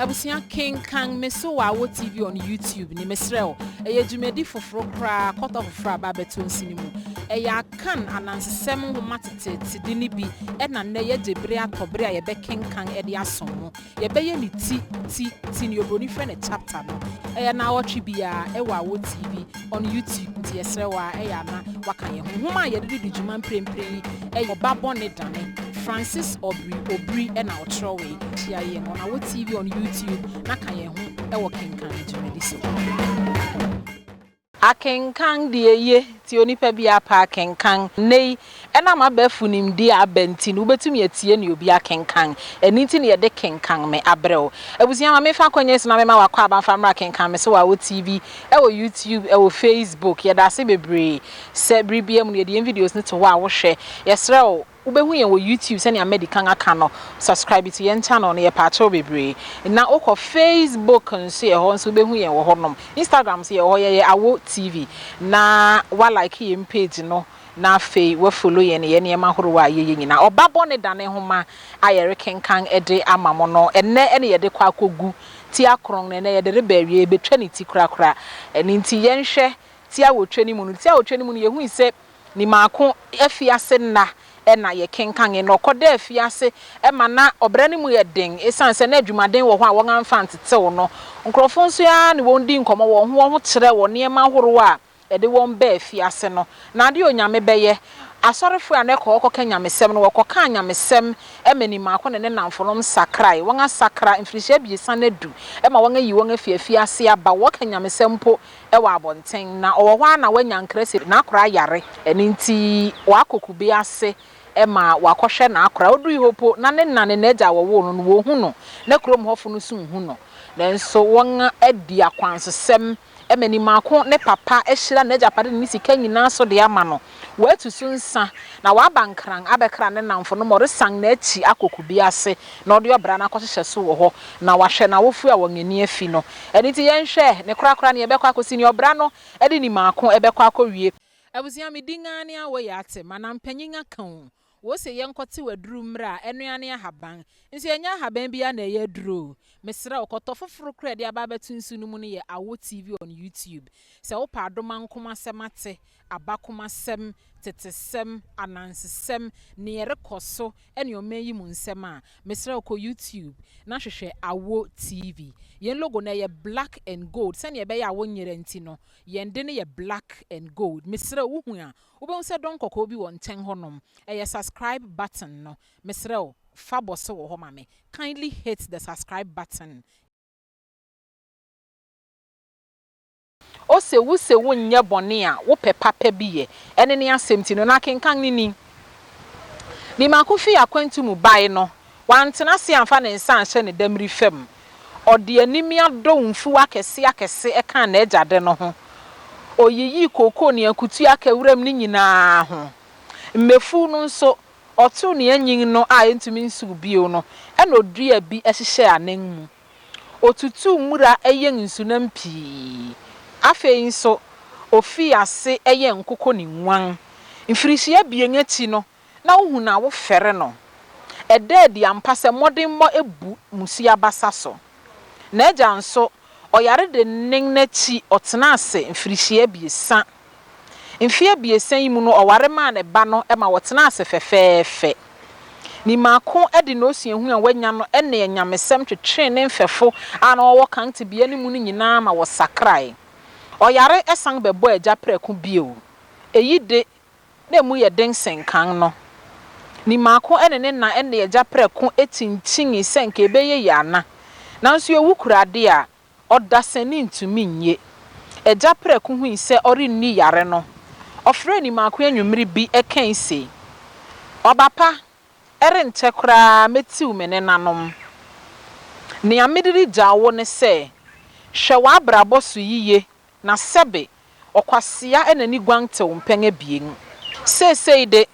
Abusua kenkan me so wɔ Awo TV on YouTube ne mesrɛ wo. Ɛyɛ dwumadi foforo koraa kɔtɔ foforo a aba abɛto nsi no mu. Ɛyɛ Akan anansesɛm nhoma teteete de no bi na nnɛ yɛagye bere atɔ bere a yɛbɛkenkan de asom mo. Yɛbɛyɛ ne ti, ti, ti, nea oburoni frɛ no chapter no. Ɛyɛ nnawɔtwe biara wɔ Awo TV. on YouTube nti yɛsrɛ wo ara ɛyɛ a na woaka yɛn ho. Nwoma a yɛde redi dwuma mprempren yi yɛ Ɔba Bɔne Dane, Francis Obiri Obiri na ɔkyerɛwee. Hyia yɛn on our TV on YouTube na ka yɛn ho wɔ kenkan no dwumadi so. Akenkan deɛ eye, nti onipa biara pɛ akenkan. Nnɛyi Ɛnam abɛɛfo nimdeɛ a aba nti no, wobetumi atie nea obi akenkan. Ɛno nti na yɛde Kenkan Me! abrɛ wo. Abusua, ma memfa akwannya yi so na mema wo akwaaba mfa mmra Kenkan Me! so wɔ Awo TV, wɔ YouTube, wɔ Facebook. Yɛda ase bebree sɛ bere biara mu no yɛde yɛn videos no to hɔ a wohwɛ. Yɛsrɛ wo, wubehu yɛn wɔ YouTube sɛnea madi kan aka no. Subscribe to yɛn channel no, yɛpaakyɛ wo bebree. Na wokɔ Facebook nso, yɛwɔ hɔ nso, wubehu yɛn wɔ hɔnom. Instagram nso, yɛwɔ hɔ, yɛyɛ Awo TV. Na woalike yɛn page no. na afei wɔafolo yɛn yɛn nneɛma horow a yɛyɛ nyinaa. Ɔba Bɔne Dane nhoma a yɛrekenkan de ama mo no, ɛnnɛ na yɛde kɔ akogu ti akron, na ɛnnɛ yɛde reba awiei, yɛbɛtwa ne ti korakora. Ɛno nti yɛnhwɛ ti awotwe no mu no. Ti awotwe no mu no, yɛhui sɛ Nimaako afiase nna na yɛkenkanee, na ɔkɔ daa afiase ma na ɔbra no mu yɛ den esiane sɛ na adwumaden wɔ hɔ a wɔamfa antetew no. Nkurɔfo nso ara ne wɔn dii nkɔmmɔ wɔn ho wɔn ho kyerɛɛ wɔn nneɛma horow a de wɔn baa afiase no, na adeɛ a Onyame bɛyɛ, asɔrefoɔ a na ɛkɔ hɔ kɔka nyamesɛm no, wɔkɔkaa nyamesɛm ma Nimaako ne ne nnamfonom sakrae, wɔasakra, mfirihyia abiɛsa no adu ma wɔayi wɔn afiri afiase aba, wɔka nyamesɛm mpo wɔ abɔnten, na ɔwɔ hɔ ara na wanya nkra sɛ n'akora ayare, ɛno nti wakɔ kube ase ma wakɔhwɛ n'akora, ɔdui hɔ mpo na ne na ne n'agya a wɔwoo no no, wɔhu no, na kurom hɔfo no nso nhu no, nanso wɔadi akwansosɛm ma ne maako ne papa ahyira n'agyapade ne ne sika nyinaa so de ama no. Watu so nsa, na waba nkran abɛkra ne nnamfo no ma ɔresan n'akyi akɔ kube ase na ɔde ɔbra no akɔhyehyɛ so wɔ hɔ, na wahwɛ n'awofo a wɔn ani afi no. Ɛno nti, yɛnhwɛ ne korakora nea ɛbɛkɔ akosi, nea ɔbra no de ne maako bɛkɔ akowie. Abusua, me din ara ne Awoye Atem, anaa Mpanyin Akãoo. Wose yɛnkɔtew aduru mmrɛ a, ɛno ara ne ahaban. Nso ɛnyɛ ahaban biara na ɛyɛ aduru o. Mesrɛ wo, kɔtɔ foforo koraa a ɛde aba abɛto nsu no mu no yɛ Awo TV on YouTube. Sɛ wopɛ adomankom asɛm ate, abakomasɛm, tetesɛm, anansesɛm, nea ɛrekɔ so ne ɔman yi mu nsɛm a, mesrɛ wo kɔ YouTube na hwehwɛ Awo TV. Yɛn logo no, ɛyɛ black and gold. Sɛnea ɛbɛyɛ a wonyera nti no, yɛn de no yɛ black and gold. Mesrɛ wo, wuhu a, Wobɛhu sɛ dɔn kɔkɔɔ bi wɔ nkyɛn hɔ nom, ɛyɛ subscribe button no. Mesrɛ wo fa bɔ so wɔ hɔ ma me. Kindly hit the subscribe button y. Ose wo se wo nyɛ bɔne a wo pɛ papa bi yɛ. Ɛne ne asɛmti no. Na kenkan ne ni. Ni mako fii akwantu mu bae no. Wantena ase amfa ne nsa anhyɛ ne damiri fam. Ɔde animia dɔw mfuw akɛse akɛse kaa n'agya de no ho. Oyiyii kooko ne akutua kaa wuram no nyinaa ho. Mmefuw no nso, ɔtow nea anyin no a entumi nsow bio no na oduaa bi hyehyɛɛ anan mu. Otutuu mmura yɛn nsunam pii. Afei nso, ofii ase yɛn nkoko ne nguan. Mfirihyia abien akyi no, na wohu no a wofɛre no. Ɛda adi ampa sɛ mmɔdenmmɔ abu mmusua abasa so. N'agya nso, ɔyare dennen no akyi ɔtenaa ase mfirihyia abiɛsa. Mfe abiɛsa yi mu no ɔware maa ne ba no ma wɔtenaa ase fɛfɛɛfɛ. Ne mako de n'osuahu a wanya no ne anyamesɛm twetwee ne mfɛfo a na wɔwɔ kan tebea no mu no nyinaa ma wɔsakrae. Ɔyare san bɛbɔɔ agya prɛko bio. Eyi de, na emu yɛ den sen kan no. Nimaako ne ne na ne agya prɛko kyinkyinii sɛ anka ɛbɛyɛ yie ana. Nanso ɛwu kura adeɛ a, ɔdasani ntumi nnye. Agya prɛko hui sɛ ɔrenni yare no, ɔfrɛɛ Nimaako anwummere bi kae sei, Ɔba pa, ɛrenkyɛ koraa mɛtiw me nenanom. Nea mede regyaw wo ne sɛ, hwɛ w'abrabɔ so yiye Na sɛbe, ɔkwasea na ne guan tew mpɛn abien. Seesei de,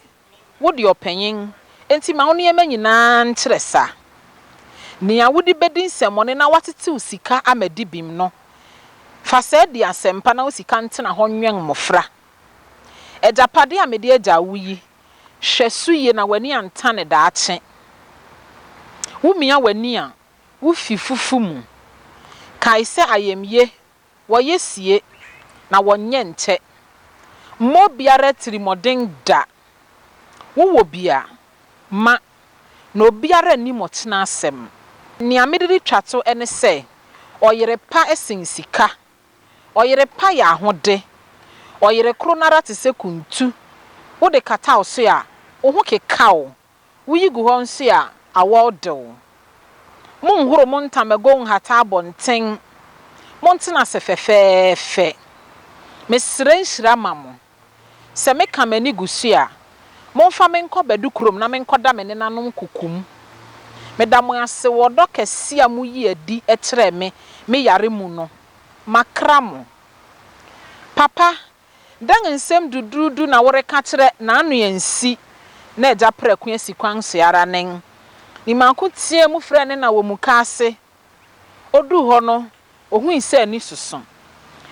wode ɔpanyin, enti ma wo nneɛma nyinaa nkyerɛ sa. Nea wode bedi nsɛmmɔne na woatetew sika ama dibem no, fa saa di asɛmpa na wo sika ntena hɔ nwɛn mmofra. Agyapade a mede agyaw wo yi, hwɛ so yiye na w'ani antane daakye. Wumia w'ani a, wufi fufu mu. Kae sɛ ayamye Wɔyɛ sie, na wɔnyɛ ntɛ. Mma obiara atirimmɔden da. Wowɔ bi a, ma, na obiara nnim ɔkyena asɛm. Nea mede retwa to ne sɛ, ɔyere pa sen sika. Ɔyere pa yɛ ahode. Ɔyere koro no ara te sɛ kuntu. Wode kata wo so a, wo ho keka wo. Woyi gu hɔ nso a, awɔw de wo. Monhoro mo ntamagow nhata abɔnten. Montena ase fɛfɛɛfɛ. Mesrɛ nhyira ma mo. Sɛ meka m'ani gu so a, momfa me nkɔ Badu kurom na menkɔda me nenanom kokom. Meda mo ase wɔ ɔdɔ kɛse a muyi adi kyerɛɛ me me yare mu no. Makra mo. Papa Dɛn nsɛm duduudu na woreka kyerɛ n'ano ansi na agya prɛko asi kwan so ara nen? Ne mako teɛɛ mu frɛɛ ne na wɔ mukaase. Oduu hɔ no, ohui sɛ ani soso.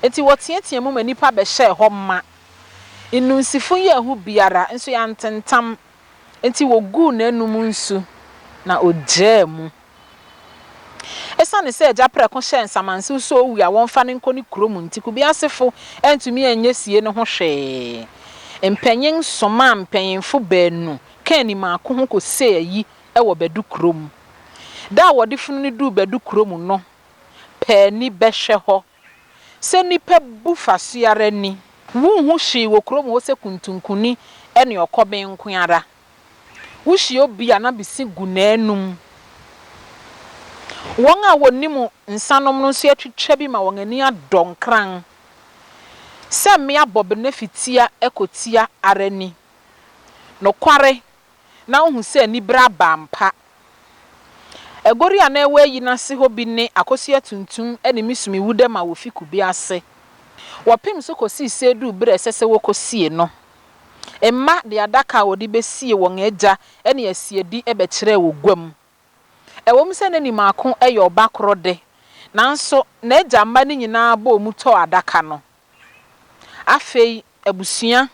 Enti wɔteɛteɛɛ mu ma nnipa bɛhyɛɛ hɔ ma. Nnunsifu yɛɛ hu biara, nso yɛantentam. Enti woguu n'anom nsu, na ogyaa mu. Esiane sɛ agya prɛko hyɛɛ nsamansew sɛ owu a wɔmfa no nkɔ ne kurom nti, kubea asefo antumi anyɛ sie no ho hwee. Mpanyin somaa mpanyimfo baanu kaa ne mmaako ho kosee ayi wɔ Badu kurom. Da a wɔde funu no duu Badu kurom no, paani bɛhwɛ hɔ. Sɛ nnipa bu fa so ara ni. Wunhu hwee wɔ kurom hɔ sɛ kuntunkunni ne ɔkɔben nko ara. Wuhyia obi a na bisi gu n'anom. Wɔn a wonnim nsanom no nso atwitwa bi ma wɔn ani adɔ nkran. Sɛ mmea bɔ bene fi tia kotia ara ni. Nokware, na wohu sɛ ne bere aba ampa. Aguori a na ɛwɔ ayi no ase hɔ bi ne akosua tuntum ne misumiwu dɛm a wofi kube ase. Wɔpem so kosii sɛ eduu bere a ɛsɛ sɛ wokosie no. Mma de adaka a wɔde besie wɔn agya ne asiedi bɛkyerɛɛ wɔ gua mu. Ɛwom sɛ na ne mmaako yɛ ɔba koro de, nanso n'agya mma no nyinaa bɔɔ mu tɔɔ adaka no. Afei abusua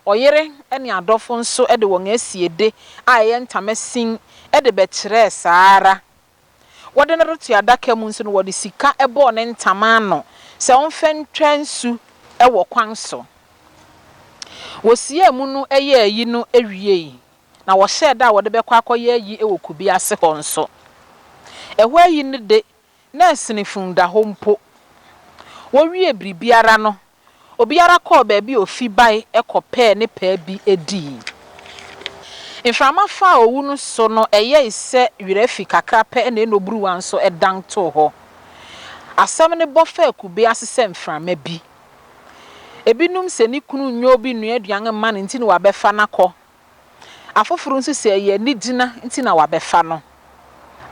Ɔyere ne adɔfo nso de wɔn asiede a ɛyɛ ntama sin de bɛkyerɛɛ saa ara. Wɔde no reto adaka mu nso no, wɔde sika bɔɔ ne ntama ano sɛ ɔmfa ntwa nsu wɔ kwan so. Wɔsiee mu no yɛɛ ayi no wiei, na wɔhyɛɛ da a wɔde bɛkɔ akɔyɛ ayi wɔ kube ase hɔ nso. Ɛhɔ ayi no de, na ɛsene fundahɔ mpo. Wɔwiee biribiara no, Obiara kɔɔ baabi a ofi bae kɔpɛɛ ne pɛ bi dii. Mframa faa owu no so no, ɛyɛe sɛ wira fi kakra pɛ na ɛna oburuwa nso dan too hɔ. Asɛm no bɔ faa kube ase sɛ mframa bi. Ebinom se ne kunu nyɛ obi nnua aduan mma no nti na wabɛfa no akɔ. Afoforo nso sɛ ɛyɛ anigyina nti na wɔabɛfa no.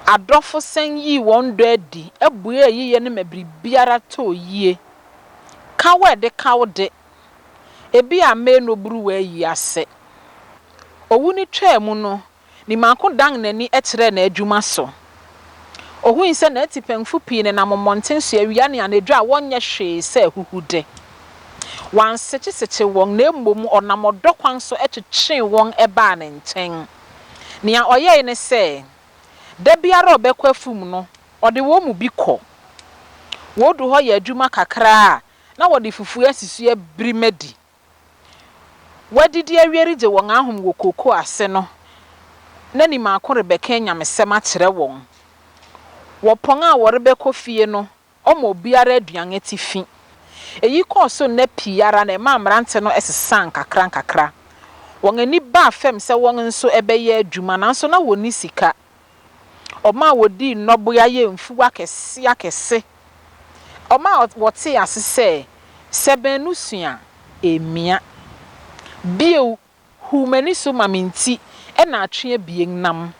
Adɔfo san yii wɔn dɔ adi, buee ayiyɛ no ma biribiara tɔɔ yie. Kaw a ɛde kaw de, ebia ammɛn no oburuwa ayi ase. Owu no twaa mu no, Nimako dan n'ani kyerɛɛ n'adwuma so. Ohui sɛ n'atipɛnfo pii nenam mmɔnten so awia ne anadwo a wɔnyɛ hwee sɛ ahuhude. Wansekyesekye wɔn na mmom ɔnam ɔdɔ kwan so twekyee wɔn baa ne nkyɛn. Nea ɔyɛe ne sɛ, da biara a ɔbɛkɔ afum no, ɔde wɔn mu bi kɔ. Wodu hɔ yɛ adwuma kakra a, na wɔde fufu a sisi abiri ma di. wɔadidi awie regye wɔn ahom wɔ kookoo ase no, na ni mako rebɛka anyamesɛm akyerɛ wɔn. Wɔ pɔn a wɔrebɛkɔ fie no, ɔma obiara aduan atifi. Eyi kɔɔ so nna pii ara na ɛmaa mmerante no sesaa nkakrankakra. Wɔn ani baa fam sɛ wɔn nso bɛyɛ adwuma, nanso na wɔnni sika. Wɔn a wɔdii nnɔboa yɛ mfuw akɛse akɛse. Wɔn a wɔtee ase sɛ, Sɛ baanu sua a, ɛremmia. Bio, hu m'ani so ma me nti na atwe abien nam.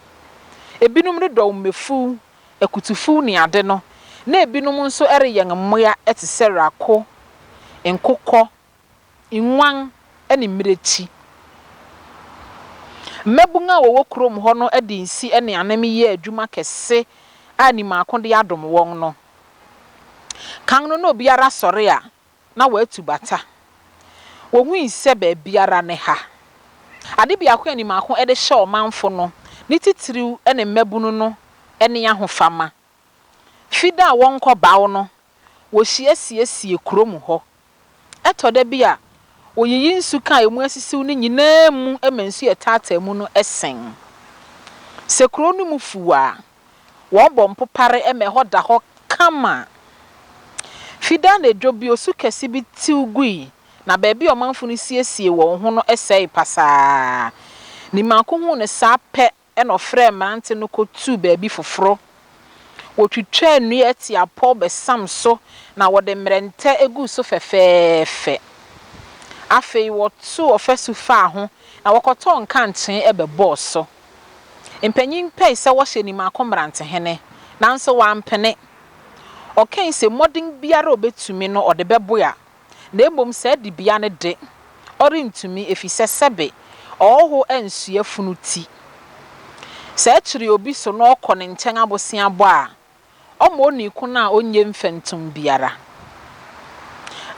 Ebinom redɔw mmefuw, akutufuw ne ade no, na ebinom nso reyɛn mmoa te sɛ rako, nkokɔ nguan ne mmirekyi. Mmabun a wɔwɔ kurom hɔ no de nsi ne anem yɛɛ adwuma kɛse a nim a ako de adom wɔn no. Kan no na obiara sɔre a, na watu bata. Wohui sɛ baabiara ne ha. Ade biako a nim a ako de hyɛ ɔmanfo no, ne titiriw ne mmabun no, ne ahofama. Fi da a wɔnkɔ baw no, wohyia siesie kurom hɔ. Ɛtɔ da bi a, woyiyi nsuka a emu asisiw no nyinaa mu ma nsu a ɛtaataa mu no sen. Sɛ kurow no mu fuw a, wɔbɔ mpopare ma ɛhɔ da hɔ kama. Fida anadwo bi, osu kɛse bi tew gui, na baabi a ɔmanfo no siesiee wɔn ho no sɛee pasaa. Nimaako huu no saa pɛ Ɛnna ɔfrɛɛ mmerante no kotuu baabi foforo. Wotwitwaa nnua atiapɔw bɛsam so na wɔde mmerɛntɛ guu so fɛfɛɛfɛ. Afei wɔtoo ɔfasu faa ho na wɔkɔtɔɔ nkankyee bɛbɔɔ so. Mpanyin pɛe sɛ wɔhyɛ Nimako mmerantehene, nanso wampene. Ɔkae se mmɔden biara a obetumi no ɔde bɛboa na mmom saa dibea no de, ɔrentumi, efisɛ sɛbe ɔhɔho ansoɛ funu ti. Sɛ ɛkyere obi so na ɔkɔ ne nkyɛn aboseabɔ a, ɔma onii ko no a onnye mfɛntom biara.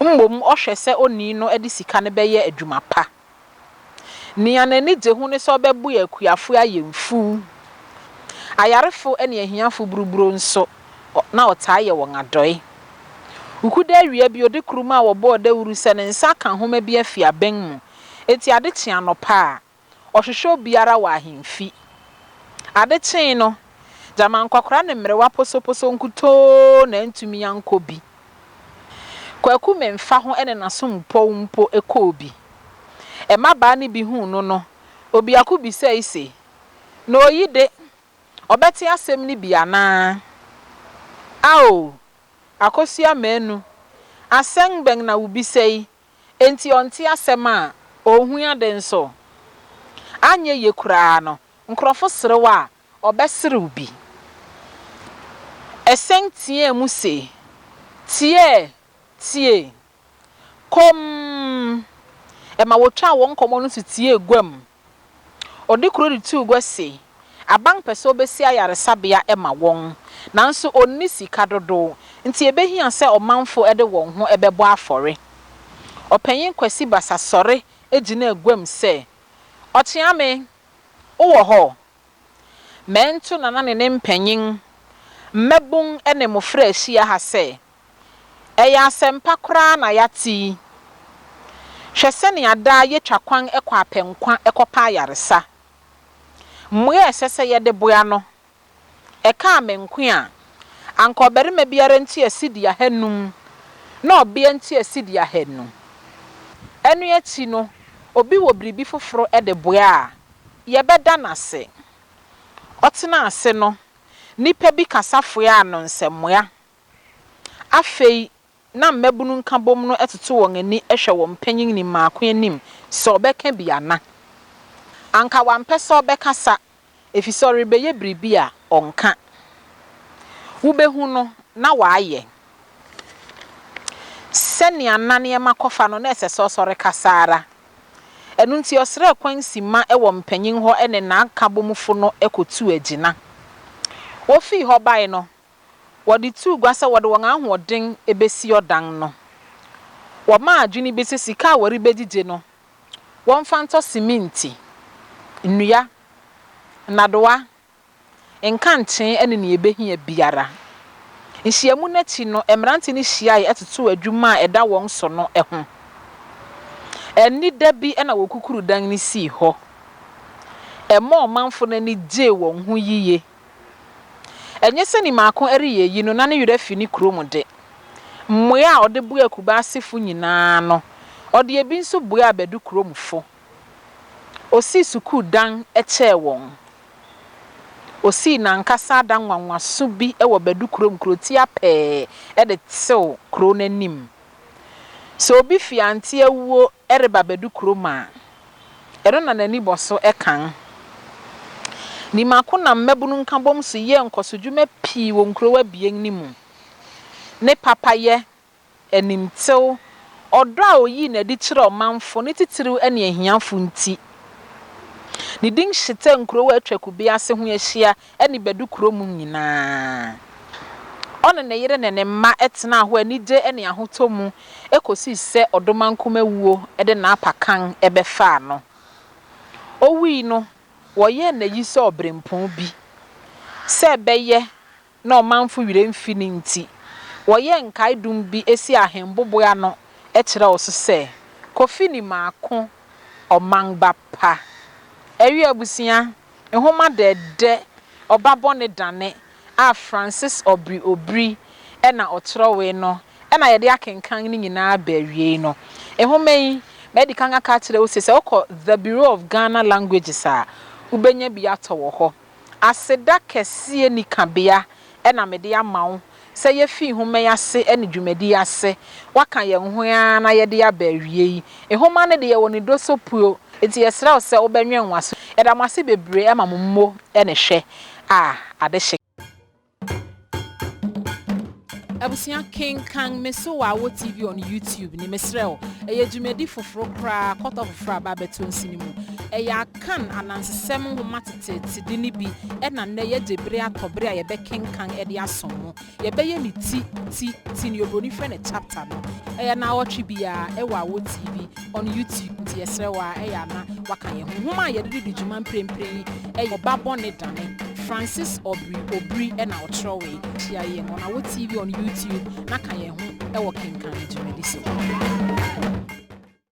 Mmom ɔhwɛ sɛ onii no de sika no bɛyɛ adwuma pa. Nea n'ani gye ho ne sɛ ɔbɛboa akuafo ayɛ mfuw. Ayarefo ne ahiafo buruburoo nso, na ɔtaa yɛ wɔn adɔe. Wukuda awia bi, ɔde kurumaa a wɔbɔɔ dawuru sɛ ne nsa aka nhoma bi afi abɛn mu. Enti ade kyee anɔpa a, ɔhwehwɛ obiara wɔ ahemfi. Ade kyee no, Gyama nkɔkora ne mmerewa posoposo nkutoo na antumi ankɔ bi. Kwaku Memfaho ne n'asompɔw mpo kɔɔ bi. Mmabaa no bi huu no no, obiako bisae se, Na oyi de, ɔbɛte asɛm no bi anaa? Ao! Akosua Manu, asɛn bɛn na wubisa yi enti ɔnte asɛm a, onhu ade nso. Anyɛ ye koraa no, nkurɔfo serew a, ɔbɛserew bi. Ɛsɛn teɛɛ mu se, Tie! Tie! Komm! Ɛma wotwaa wɔn nkɔmmɔ no so tiee guam Ɔde kredit too gua se aban pɛ sɛ ɔbɛsi ayaresabea ma wɔn, nanso ɔnni sika dodow nti ɛbɛhia sɛ ɔmanfo de wɔn ho bɛbɔ afɔre. Ɔpanyin Kwasi Basa sɔre gyinaa guam sɛ, Ɔkyeame, wowɔ hɔ? Mɛnto Nana ne ne mpanyin, mmabun ne mmofra ahyia ha sɛ Ɛyɛ asɛmpa koraa na yɛate yi! Hwɛ sɛnea daa yetwa kwan kɔ apɛnkwa kɔpɛ ayaresa! Mmoa a ɛsɛ sɛ yɛde boa no, ɛkaa me nko a, anka ɔbarima biara ntua cedi ahanum na ɔbea ntua cedi ahanu. Ɛno akyi no, obi wɔ biribi foforo de boa a, yɛbɛda no ase. Ɔtenaa ase no, nnipa bi kasa foaa no nsɛmmoa Afei na mmabunu nkabom no toto wɔn ani hwɛ wɔn mpanyinni mmaako anim sɛ ɔbɛka bi ana. Anka wampɛ sɛ ɔbɛkasa efisɛ ɔrebɛyɛ biribi a ɔnka. Wobɛhu no na wayɛ. Sɛnea na nneɛma kɔ fa no, na ɛsɛ sɛ ɔsɔre kasa ara. Ɛno nti ɔsrɛɛ kwan simma wɔ mpanyin hɔ ne n'akabomfo no kɔtuu agyina. Wofii hɔ bae no, wɔde too gua sɛ wɔde wɔn ahoɔden besi ɔdan no. Wɔmaa adwene bi sɛ sika a wɔrebegyigye no, wɔmfa ntɔ siminti, nnua, nnadewa, nkankyee ne nea ebehia biara. Nhyiam no akyi no, mmerante no hyiae totoo adwuma a ɛda wɔn so no ho. Anida bi na wɔkukuruu dan no sii hɔ. Ɛmaa ɔmanfo no ani gyee wɔn ho yiye. Ɛnyɛ sɛ Nimaako reyɛ eyi no na ne werɛ afi ne kurom de. Mmuae a ɔde buaa Kubaasefo nyinaa no, ɔde ebi nso buaa Badu kuromfo. Osii sukuu dan kyɛɛ wɔn. Osii n'ankasa adan nwanwaso bi wɔ Badu kurom kurotia pɛɛ de tew kurow no anim. Sɛ obi fi Ante awuo reba abɛdu kurom a, ɛno na n'ani bɔ so kan. Nimako nam Mmabunu Nkabom so yɛɛ nkɔsodwuma pii wɔ nkurow abien no mu. Ne papayɛ, animtew, ɔdɔ a oyii no adi kyerɛɛ ɔmanfo, ne titiriw ne ahiafo nti, ne din hyetɛɛ nkurow a atwa kube ase ho ahyia ne Badu kuro mu nyinaa. Ɔne ne yere ne ne mma tenaa hɔ anigye ne ahotɔ mu kɔsii sɛ Ɔdomankum awuo de n'apakan bɛfaa no. Ɔwui no, wɔyɛɛ no ayi sɛ ɔberempɔn bi. Sɛ ɛbɛyɛ na ɔmanfo werɛ mfi no nti, wɔyɛɛ nkaedum bi sii ahemboboe ano kyerɛw so sɛ, Kofi Nimako, Ɔman ba pa. Awi abusua, Nhoma Dɛɛdɛ, Ɔba Bɔne Dane a Francis Obri Obri na ɔkyerɛwee no na yɛde akenkan ne nyinaa aba awiei no. Nhoma yi, madi kan aka akyerɛ wo se, sɛ wokɔ The Bureau of Ghana Languages a, wobɛnya bi atɔ wɔ hɔ. Aseda kɛseɛ nikabea na mede ama wo sɛ yefi nhoma yi ase ne dwumadi yi ase, wɔaka yɛn ho yi ara na yɛde aba awiei. Nhoma no de, yɛwɔ ne dosopuo, enti yɛsrɛ wo sɛ wobɛnwɛn wo aso. Yɛda mo ase bebree ma mo mmo ne hwɛ a ade hye. Abusua, kenkan Me So Wɔ Awo TV on YouTube no, mesrɛ wo. Ɛyɛ dwumadi foforo koraa, kɔtɔ foforo a aba abɛto nsi no mu. Ɛyɛ. kan anansesɛm nhoma teteetede no bi na nnɛ yɛagye bere atɔ bere a yɛbɛkenkan de asom ho. Yɛbɛyɛ ne ti, ti, ti, nea oburoni frɛ no chapter no. Ɛyɛ naawɔtwe biara, ɛwɔ awɔ TV, on YouTube, nti yɛsrɛ wo ara, ɛyɛ a na woaka yɛn ho. Nhoma a yɛde redi dwuma mprempren yi yɛ Ɔba Bɔne Dane. Francis Obiri, Obiri, na ɔkyerɛwee. Hyia yɛn, on awɔ TV, on YouTube, na ka yɛn ho wɔ kenkan dwumadi so.